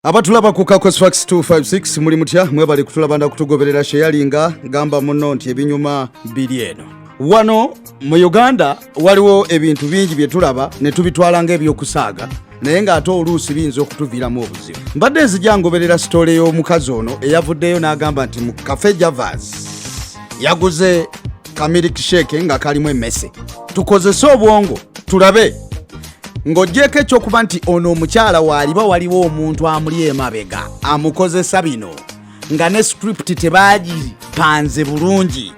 abatulaba ku kakosfax 256 muli mutya mwebali kutulaba nda kutugoberera sheyalinga gamba muno nti ebinyuma biri eno wano mu uganda waliwo ebintu bingi bye tulaba ne tubitwala ng'ebyokusaaga naye ng'ate oluusi biyinza okutuviiramu obuzibu mbadde nzija ngoberera sitoole y'omukazi ono eyavuddeyo n'agamba nti mu kafe javas yaguze kamirik sheke nga kalimu emmese tukozese obwongo tulabe ng'ogyeko ekyokuba nti ono omukyala waaliba waliwo omuntu amuli emabega amukozesa bino nga ne script tebaagipanze bulungi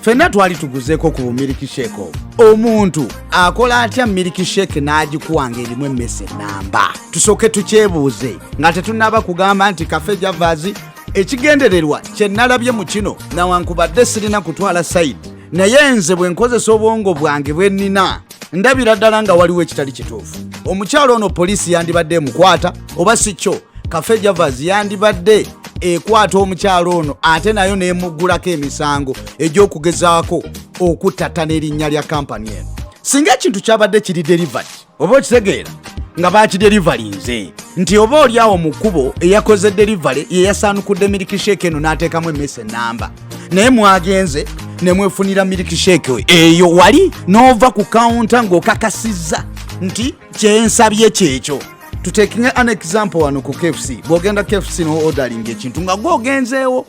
fenna twali tuguzeeko ku bumiliki sheke obwo omuntu akola atya miliki sheke n'agikuwa ng'erimu emmese namba tusooke tukyebuuze nga tetunnaba kugamba nti kafe javaazi ekigendererwa kye nalabye mu kino nawankubadde sirina kutwala sayidi naye nze bwe nkozesa obwongo bwange bwe nnina ndabira ddala nga waliwo ekitali kituufu omukyalo ono poliisi yandibadde emukwata oba si kyo kafe javas yandibadde ekwata omukyalo ono ate nayo nemuggulako emisango egy'okugezaako okuttattana erinnya lya kampani eno singa ekintu kyabadde kiri delivered oba okitegeera nga baakiderivalinze nti oba oli awo mu kkubo eyakoze derivale ye yasaanukudde mirikisheeke eno n'ateekamu emmese ennamba naye mwagenze ne mwefunira mirikisheeke eyo wali n'ova ku kawunta ng'okakasizza nti kyensabye kyekyo tutekinge an example wano ku kfc bw'ogenda kfc n'odalinga ekintu nga gwogenzeewo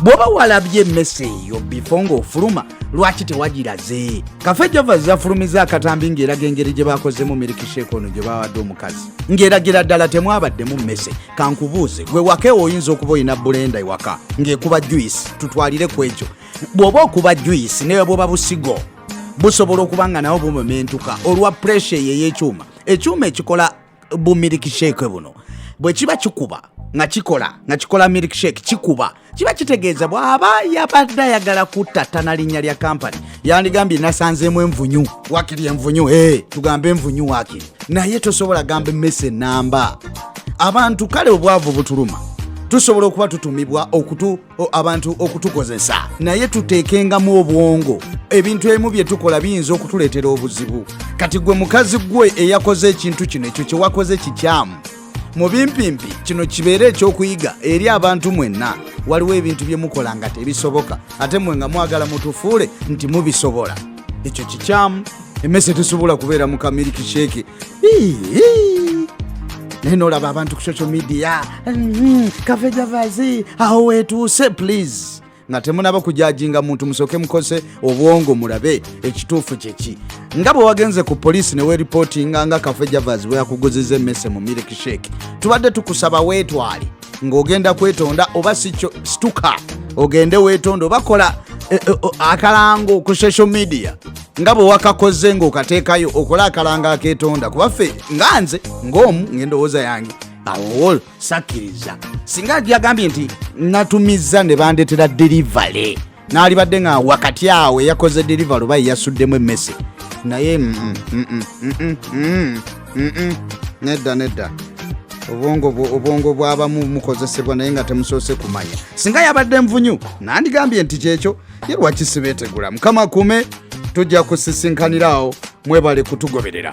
bwoba walabye emmese eyo bifo ng'ofuluma lwaki tewagiraze kafe java zafulumiza akatambi ng'eraga engeri gye bakozemu mirikisheeka ono gye bawadde omukazi ng'eragira ddala temwabaddemu mmese kankubuuze gwe waka ewo oyinza okuba olina bulenda ewaka ng'ekuba juisi tutwalire ku ekyo bw'oba okuba juisi newe bwoba busigo busobola okuba nga nawo bumementuka olwa puresha eyo ey'ekyuma ekyuma ekikola bu milk shake buno bwe kiba kikuba nga kikola nga kikola milk shake kikuba kiba kitegeeza bw'aba yabadde ayagala kuttattana linnya lya kampani yandigambye nasanzeemu envunyu wakiri envunyu e tugambe envunyu wakiri naye tosobola gamba emmese ennamba abantu kale obwavu butuluma tusobola okuba tutumibwa okutu abantu okutukozesa naye tuteekengamu obwongo ebintu ebimu bye tukola biyinza okutuleetera obuzibu kati gwe mukazi gwe eyakoze ekintu kino ekyo kye wakoze kikyamu mu bimpimpi kino kibeere ekyokuyiga eri abantu mwenna waliwo ebintu bye mukola nga tebisoboka ate mwe nga mwagala mutufuule nti mubisobola ekyo kikyamu emmese tesobola kubeera mu kamiliki sheeke naye nolaba abantu ku social media mm-hmm. kavejavazi awo wetuuse please nga temunaba kujajinga muntu musoke mukose obwongo mulabe ekituufu kyeki nga bwe wagenze ku poliisi neweripotinga nga kafejavazi bweyakuguziza emmese mu milk shake tubadde tukusaba weetwale ng'ogenda kwetonda oba sikyo situka ogende wetonda oba kola eh, eh, oh, akalango ku social media nga bwe wakakoze ng'okateekayo okole akalango aketonda kuba ffe nga nze ng'omu ng'endowooza yange awo sakkiriza singa yagambye nti natumiza ne bandetera delivery n'alibadde nga wakati awo eyakoze deliver oba eyasuddemu emmese naye mm, mm, mm, nedda nedda obwongo obwongo bwabamu mukozesebwa naye nga temusoose kumanya singa yabadde nvunyu nandigambye nti kyekyo ye lwaki sibeetegula mukama kume tujja kusisinkaniraawo mwebale kutugoberera